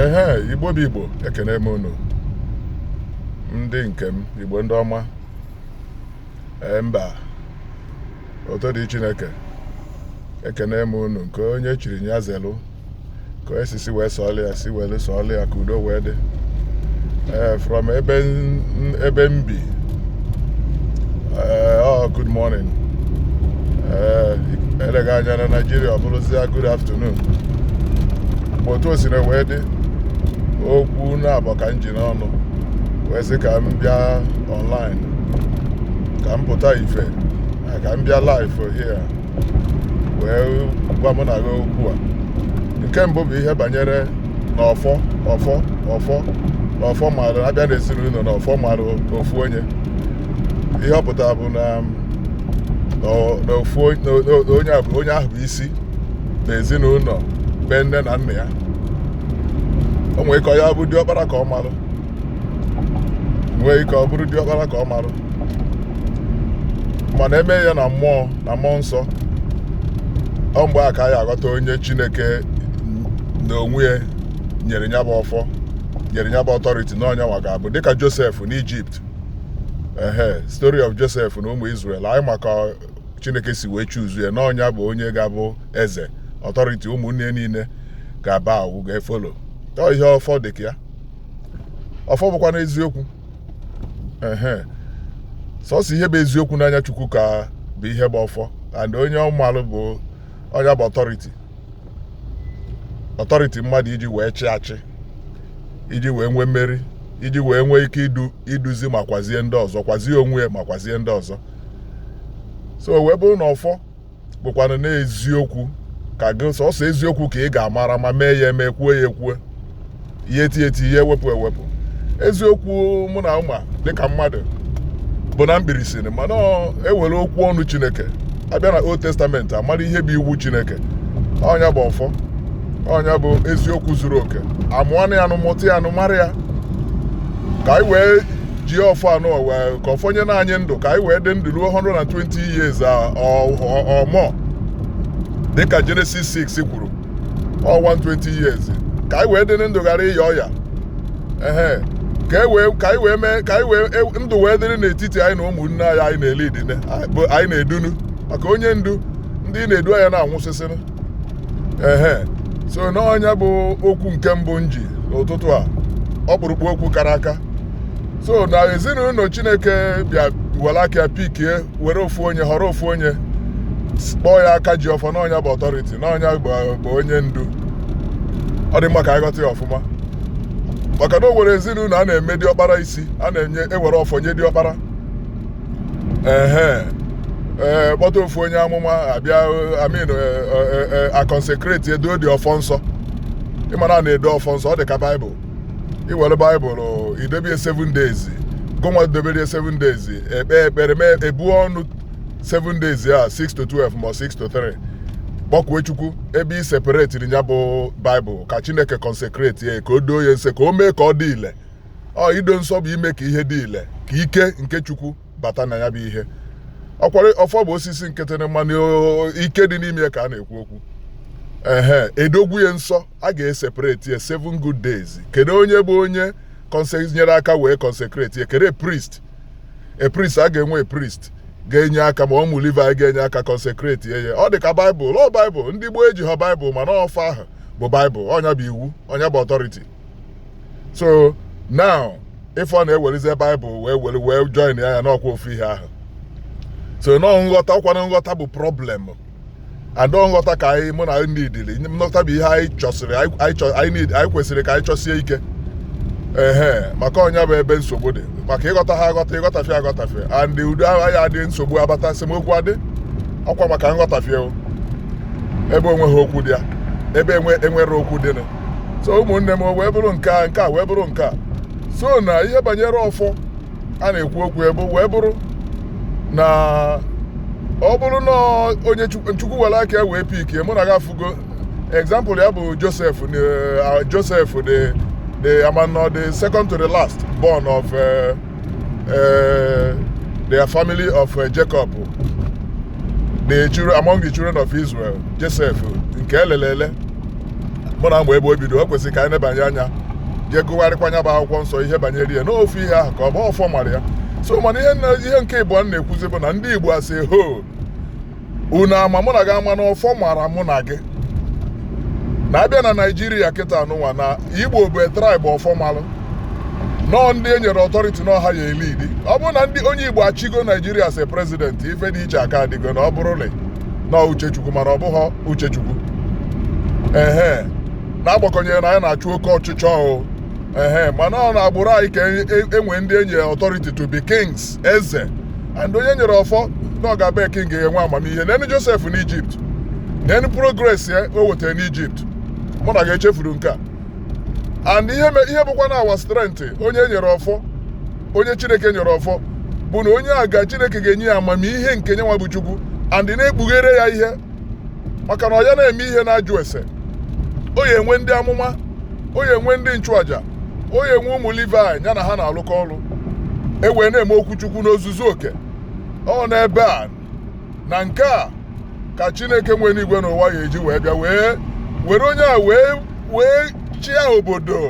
ehe igbo bụ igbo ekenee m unu ndị nke m igbo ndị ọma ee mba oto dị chineke ekenee m unu nke onye chiri nya zelu ka e si si wee sọọlụ ya si wee sọọlụ ya ka udo wee dị ee from ebe m bi ee ọ good morning ee eleghị anya na naijiria ọ bụrụzia good afternoon mgbe otu o sina wee dị okwu naabọ ka m ji n'ọnụ wee sị ka m bịa online ka m pụta ife na ka m bịa live here wee gwa mụ na gị okwu a nke mbụ bụ ihe banyere na ọfọ ọfọ ọfọ na ọfọ marụ a bịa na ezinụnọ na ọfọ marụ ofu onye ihe ọ pụtara bụ na na ofu onye ahụ bụ isi na ezinụnọ be nne na nna ya o nwere ike ọ ya bụ diọkpara ka ọ marụ nwee ike ọ bụrụ diọkpara ka ọ marụ mana e mee ya na mmụọ na mmụọ nsọ ọ mgbe a ka anyị aghọta onye chineke na onwe ya nyere nya bụ ọfọ nyere nya bụ authority na ọ nya nwa ga-abụ dịka joseph na egypt ehe story of joseph na ụmụ israel anyị ma ka chineke si wee choose ya na ọ nya bụ onye ga-abụ eze authority ụmụnne ya niile ga-abow ga-efollow ọ ihe ọfọ dị ka ya ọfọ bụkwanụ eziokwu ehe sọsọ ihe bụ eziokwu n'anya chukwu ka bụ ihe bụ ọfọ and onye ọ malụ bụ onye bụ authority authority mmadụ iji wee chị achị iji wee nwee mmeri iji wee nwee ike idu iduzi ma kwazie ndị ọzọ kwazie onwe ya ma kwazie ndị ọzọ so wee bụrụ na ọfọ bụkwanụ n'eziokwu ka gị sọsọ eziokwu ka ị ga-amara ma mee ya eme kwuo ya ekwuo ihe eti eti ihe ewepụ ewepụ eziokwu mụ na gị ma dịka mmadụ bụ na mkpirisi mana e were okwu ọnụ chineke a bịa na old testament a mara ihe bụ iwu chineke ọ nya bụ ọfọ ọ nya bụ eziokwu zuru oke a mụọnụ ya nụ mụta ya nụ mara ya ka anyị wee ji ọfọ ahụ wee ka ọfọ nyenụ anyị ndụ ka anyị wee dị ndụ ruo 120 years a- ọ- ọ- or more dịka Genesis 6 kwuru ọ 120 years ka anyị wee dị ndụ ghara ịya ọya ehe ka e wee ka anyị wee mee ka anyị wee e- ndụ wee dịrị n'etiti anyị na ụmụnne anyị anyị na-eleadinụ anyị bụ- anyị na-edunu maka onye ndu ndị ị na-edu aya na-anwụsịsịnụ ehe so na ọ nya bụ okwu nke mbụ m ji n'ụtụtụ a ọkpụrụkpụ okwu kara aka so na ezinụlọ chineke bịa were aka ya pikie were ofu onye họrọ ofu onye s- kpọọ ya aka ji ọfọ na ọ nya bụ ọtọriti na ọ nya bụ bụ onye ndu ọ dị mma ka anyị ghọta ya ọfụma maka na o nwere ezinụlọ a na-eme diọkpara isi a na-ewere ọfọ nye diọkpara ehe ee kpọta ofu onye amụma a bịa I mean a kọnsekretie doo the ọfọ nsọ ị ma na a na-edo ọfọ nsọ ọ dị ka baịbụl i were baịbụl i dobe ya 7 days gụnwa dobere ya 7 days ekpe ekpere mee ebu ọnụ 7 days a 6 to 12 ma 6 to 3 kpọkue chukwu ebe i separetiri ya bụ baịbụl ka chineke kọnsekreti ya ka o doo ya nsọ ka o mee ka ọ dị ile ọ ido nsọ bụ ime ka ihe dị ile ka ike nke chukwu bata na ya bụ ihe ọ kwa na ọfọ bụ osisi nkịtị mana ike dị n'ime ya ka a na-ekwu okwu ehe e dogwu ya nsọ a ga-esepareti ya seven good days kedu onye bụ onye nyere aka wee consecrate ya kedu priest a priest a ga-enwe a priest ga-enye aka ma ụmụ Livaị ga-enye aka kọnsekreti ya ọ dị ka baịbụl ọ baịbụl ndị gboo ejiha baịbụl mana ọfọ ahụ bụ baịbụl ọ nya bụ iwu ọ nya bụ ọtọriti so now ị fụ na e welizi baịbụl wee were wee join ya ya na ọ kwa ofu ihe ahụ so nọọ nghọta ọkwa na nghọta bụ problem and ọ nghọta ka anyị mụ na ndị idili nghọta bụ ihe anyị chọsịrị anyị kwesịrị ka anyị chọsie ike ehe maka ọ nya bụ ebe nsogbu dị maka ị ghọtaha aghọta ị ghọtafie aghọtafie and udo agaghị adị nsogbu abata esemokwu adị ọkwa maka nghọtafie ebe o nweghị okwu dị ya ebe e nwere okwu dịnụ so ụmụnne m wee bụrụ nke a nke a wee bụrụ nke a so na ihe banyere ọfọ a na-ekwu okwu ya bụ wee bụrụ na ọ bụrụ na onye chukwu were aka ya wee pikie mụ na gị afụgo example ya bụ josef josef the the a ma na ọ the second to the last born of eh, uh, the family of uh, Jacob the children among the children of Israel Joseph nke e lele ele mụ na mgbe ebe o bido o kwesịrị ka anyị nebanye anya jee gụgharịkwaa nya bụ akwụkwọ nsọ ihe banyere ya n'ofu ihe ahụ ka ọ bụ ọfọ mara ya so mana ihe nke ịbụọ m na-ekwuzi bụ na ndị Igbo as a whole unu ama mụ na gị ama na ọfọ mara mụ na gị na a bịa na naijiria kịtaa nụnwa na igbo bụ a traịbụ ọfọ malụ na ọ ndị e nyere ọtọriti na ọ ha ya-elidi ọ bụrụ na ndị onye igbo achịgo naijiria as prezidenti ife dị iche aka-adịgo na ọ bụrụ na ọ uche chukwu mana ọ bụghị uche chukwu ehe n'agbakọnyeghị na anyị na-achụ oke ọchịchọ o ehe mana ọ n'agbụrụ anyị ka e nwere ndị e nyere ọtọriti to be kings eze and onye e nyere ọfọ na ọ ga-abụ king ga-enwe amamihe lenụ josef n'ijipt lenụ progress ya o wetara n'ijipt mụ na gị echefuru nke a and ihe me- ihe bụkwa na our strength onye nyere ọfọ onye chineke nyere ọfọ bụ na onye a ga chineke ga-enye ya amamihe nke nyanwa bụ chukwu and na-ekpughere ya ihe maka na ọ ya na-eme ihe na-ajụ ese ọ ya-enwe ndị amụma ọ ya-enwe ndị nchụaja ọ ya-enwe ụmụ Livaị ya na ha na-alụkọ ọlụ e wee na-eme okwu Chukwu n'ozuzu oke ọ n'ebe a na nke a ka Chineke nwe enuigwe na ụwa ya-eji wee bịa wee were onye a wee wee chịa obodo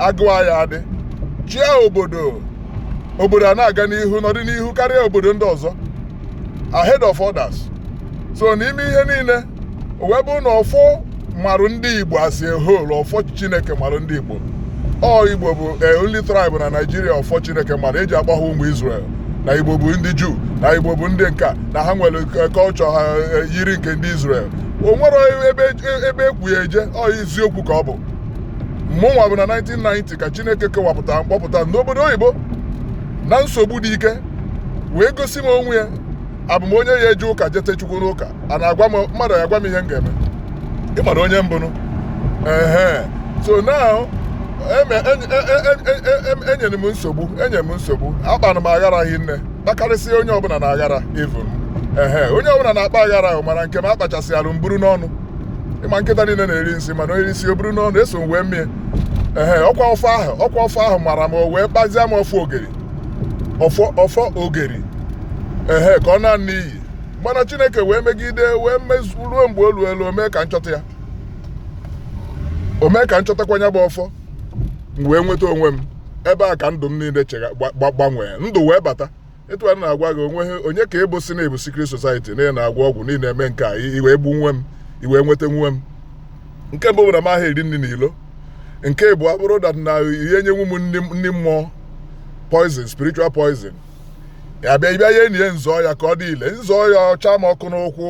agụụ aya adị chịa obodo obodo a na-aga n'ihu n'ọdịnihu karịa obodo ndị ọzọ ahead of others so n'ime ihe niile o wee bụrụ na ọfọ marụ ndị igbo as a whole ọfọ chineke marụ ndị igbo ọ igbo bụ only tribe na naijiria ọfọ chineke mara e ji agba ha ụmụ israel na igbo bụ ndị juu na igbo bụ ndị nka na ha nwere culture ha yiri nke ndị israel o nwere ebe ekwu ya eje ọ eziokwu ka ọ bụ mụnwa bụ na 1990 ka chineke kewapụta m kpọpụta n'obodo oyibo na nsogbu dị ike wee gosi m onwe ya abụ m onye ya-eje ụka jete chukwu n'ụka a na-agwa m mmadụ agwa m ihe m ga-eme ị mara onye m bụnụ ehe so now eme- enye- e- e- e- e- em- enyere m nsogbu enye m nsogbu akpara m aghara hi nne kpakarịsịa onye ọbụla na aghara even ehe onye ọbụla na-akpa aghara ahụ mana nke m akpachasịalụ m buru n'ọnụ ị ma nkịta niile na-eri nsị mana onye isi o buru n'ọnụ eso m wee mie ehe ọkwa ọfọ ahụ ọkwa ọfọ ahụ mara m o wee kpazie m ọfọ ogeri ọfọ ọfọ ogeri ehe ka ọ naa n'iyi mana chineke wee megide wee mezu ruo mgbe o lulu o mee ka m chọta ya o mee ka m chọtakwa ya bụ ọfọ m wee nweta onwe m ebe a ka ndụ m niile chega gba- gba- gbanwee ndụ wee bata etu a na-agwa gị o nweha onye ka ebo sị na m bụ secret society na ị na-agwọ ọgwụ niile eme nke a i wee gbu nwe m i wee nweta onwe m nke mbụ bụ na m aha eri nri n'ilo nke ịbụa bụrụ that na ị ya-enyenwu m nri nri mmụọ poison spiritual poison ya bịa ị bịa ya-eni ya m zọọ ya ka ọ dị ile m zọọ ya ọ chaa m ọkụ n'ụkwụ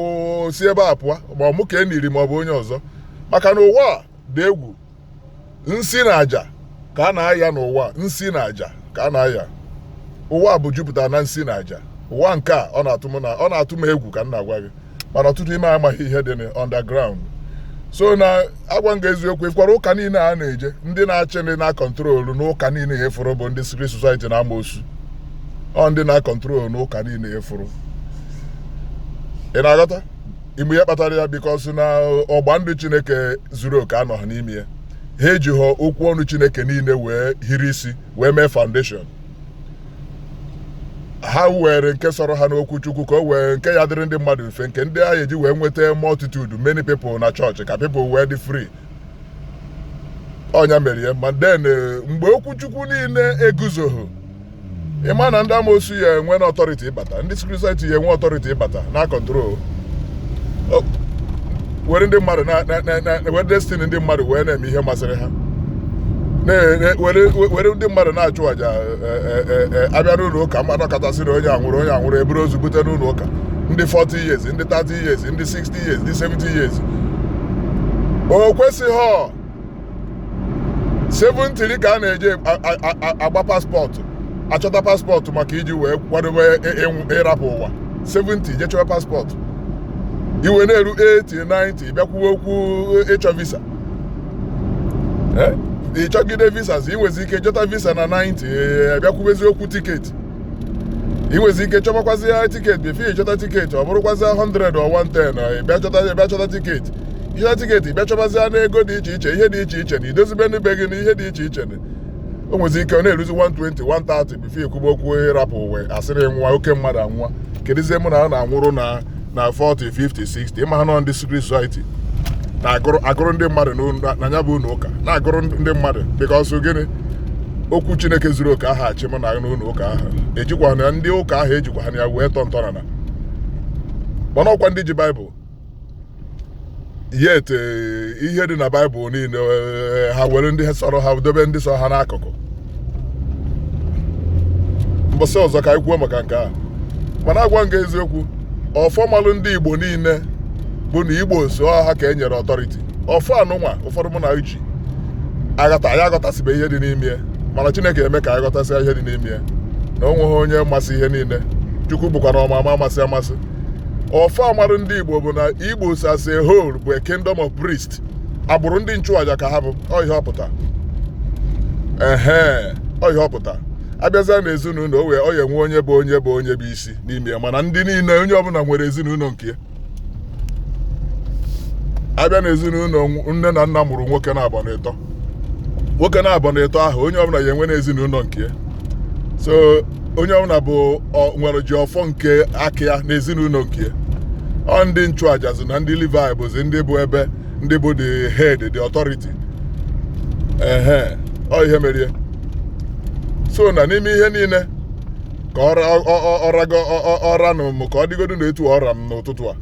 si ebe a pụọ ma ọ mụ ka e niri ma ọ bụ onye ọzọ maka na ụwa dị egwu nsi na aja ka a na-aya n'ụwa nsi na aja ka a na-aya ụwa bụ jupụtara na nsi na aja ụwa nke a ọ na-atụ m egwu ka m na-agwa gị mana ọtụtụ ime amaghị ihe dị na underground so m na-agwa gị eziokwu ị fụkwara ụka niile a na-eje ndị na-achị ndị na-akọntrolu ụka niile a ị fụrụ bụ ndị secret society na amoosu ọ ndị na-akọntrolu ụka niile a ị fụrụ ị na-aghọta ị ma ihe kpatara ya because na ọgba ndụ chineke zuru oke anọha n'ime ya ha ejiho okwu ọnụ chineke niile wee hiri isi wee mee foundation ha were nke sọrọ ha n'okwu chukwu ka o were nke ya-adịrị ndị mmadụ mfe nke ndị a ya-eji wee nweta multitude many people na chọọchị ka people wee dị free ọ nya mere ya then mgbe okwu chukwu niile eguzohọ ị ma na ndị amoosu ya-enwe na authority ịbata ndị secret society ya-enwe authority ịbata na control were ndị mmadụ were destiny ndị mmadụ wee na-eme ihe masịrị ha were ndị mmadụ na-achụ àjà e, e, e, a bịa n'ụnọ ụka mmadụ nọkata sị na onye anwụrụ onye anwụrụ e buru ozu bute n'ụnọ ụka ndị 40 years ndị 30 years ndị 60 years ndị 70 years o kwesịhọ 70 ka a na-eji agba passport achọta passport maka iji wee kwadobe ịrapụ ụwa 70 je chọwa passport i wee na-eru 80 90 bịa kwube okwu ịchọ visa ị chọgide visa i nwezi ike chọta visa na 90 bịa kwubezi okwu ticket i nwezi ike chọbakwazịa ticket before ị chọta ticket ọ bụrụkwazịa 100 or 110 ị bịa chọta ị bịa chọta ticket ị chọta ticket ị bịa chọbazịa n'ego dị iche iche ihe dị iche iche na idozibe ụnọ be gị na ihe dị iche iche na o nwezi ike ọ na-eruzi 120 130 before e kwube okwu ịrapụ ụwa a sịrị nwa oke mmadụ anwụwa kedụzie mụ na a na-anwụrụ na na 40 50 60 ị maha na ọ ndị secret society na-agụrụ agụrụ ndị mmadụ na nya bụ ụnọ ụka na-agụrụ ndị mmadụ because gịnị okwu chineke zuru oke aha achị mụ na n'ụnọ ụka aha ejikwahanụ ya ndị ụka aha ejikwahanụ ya wee tọọ ntọana mana ọ kwa ndị ji baịbụl yet eh, ihe dị na baịbụl niile eh, ha were ndị sọrọ ha dobe ndị sọrọ ha n'akụkụ mbọsị ọzọ ka anyị kwuo maka nke a mana agwa m gị eziokwu ọfọ malụ ndị igbo niile bụ na igbo as a whole ka e nyere authority ọfọ anyịnwa ụfọdụ mụ na uchi aghọta anyị aghọtasịbe ihe dị n'ime ya mana chineke eme ka anyị ghọtasịa ihe dị n'ime ya na o nweghị onye masị ihe niile chukwu bụkwanụ ama ama amasị amasị ọfọ mara ndị igbo bụ na igbo as a whole bụ a kingdom of priest agbụrụ ndị nchụaja ka ha bụ ọ ihe ọ pụta ehe ọ ihe ọ pụta a bịazịa na ezinụnọ o wee ọ ya-enwe onye bụ onye bụ onye bụ isi n'ime ya mana ndị niile onye ọbụla nwere ezinụnọ nke ya a bịa na ezinụnọ nne na nna mụrụ nwoke naabọ na ịtọ nwoke naabọ na ịtọ ahụ onye ọbụla ya-enwe na ezinụnọ nke ya so onye ọbụla bụ nwere ji ọfọ nke aka ya na ezinụnọ nke ya ọ ndị nchụaja na ndị Livaị bụzi ndị bụ ebe ndị bụ the head the authority ehe ọ ihe mere ya so na n'ime ihe niile ka ọ ranụ m ka ọ dịgodu na etu a ọ ra m n'ụtụtụ a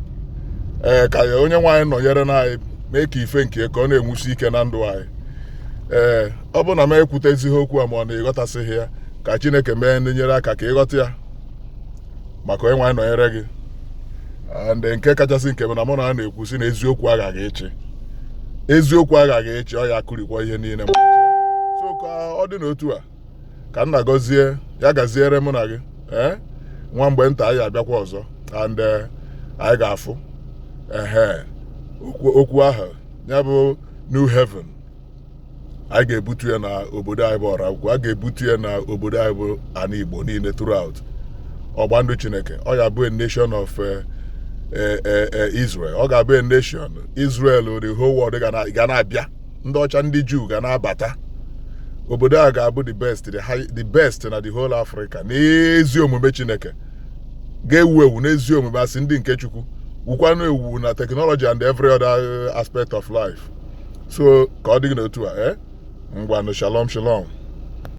ee ka ya onye nwe anyị nọnyerenụ anyị mee ka ife nke ka ọ na-enwusi ike na ndụ anyị ee ọ bụrụ na m ekwutezighị okwu a ma ọ na ị ghọtasịghị ya ka chineke mee ndị nyere aka ka ị ghọta ya ma ka onye nwe anyị nọnyere gị ndị nke kachasị nke bụ na mụ na a na-ekwu sị na eziokwu aghaghị ịchị eziokwu aghaghị ịchị ọ ya akụrikwa ihe niile so ka ọ dị n'otu a ka nna gọzie ya gaziere mụ na gị ee eh? nwa mgbe nta anyị abịakwa ọzọ and eh, anyị ga-afụ ehe okwu ahụ ya bụ new heaven anyị ga-ebutu ya na obodo anyị bụ ọraukwu a ga-ebutu ya na obodo anyị bụ ana igbo niile throughout ọgba ndụ chineke ọ ga-abụ a nation of eh, eh, eh, eh, israel ọ ga-abụ a nation israel the whole world ga na- ga na-abịa ndị ọcha ndị juu ga na-abata obodo a ga-abụ the best the, high, the best na the whole africa n'ezi omume chineke ga-ewu ewu n'ezi omume a sị ndị nke chukwu wukwanụ ewu na teknọlọji and every other eh, aspect of life so ka ọ dị gị n'otu a eh? ngwanụ shalom shalom